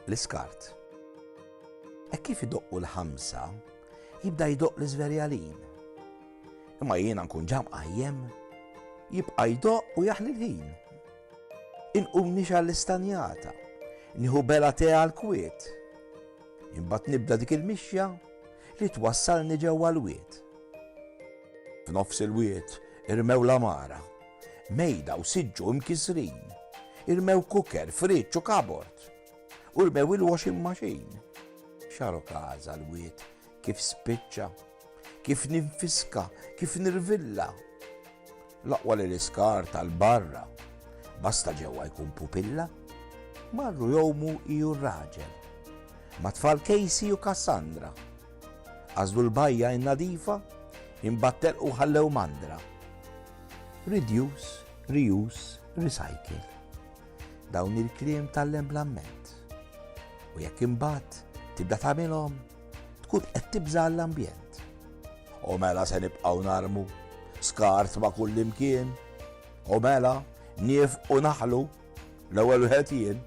L-iskart. Hekk kif idoqqu l-ħamsa, jibda jdoq l-iżverjalin. Imma jiena nkun ġam qajjem, jibqa' jdoq u jaħli l-ħin. Inqum nixa l-istanjata, nieħu bela te għal-kwiet. Imbagħad nibda dik il-mixja li twassalni ġewwa l-wied. F'nofs il-wied irmew l-għamara, mejda u siġġu imkissrin, irmew cooker, fridge u kabord, u rmew il-washing machine. Xaro kaza l-wied kif spiċċa, kif ninfiska, kif nirvilla. Laqwa li l-iskar tal-barra, basta ġewwa jkun pupilla. Marru jomu iju raġel, ma tfal Casey u Cassandra. Għażlu l-bajja in-nadifa, imbagħad telqu u ħallew mandra. Reduce, reuse, recycle. Dawn il-kliem tallem bl-amment. U jekk imbagħad tibda tagħmilhom, tkun qed tibża' l-ambjent. U mela se nibqgħu narmu skart ma' kull imkien. U mela nif u naħlu l-ewwel wieħed jien.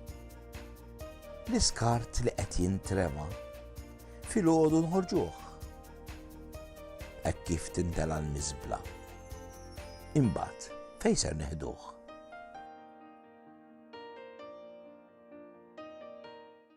L-iskart li qed jintrema' Filgħodu nħorġuh. Hekk kif tintela l-miżbla. Imbagħad fejn ser neħduh?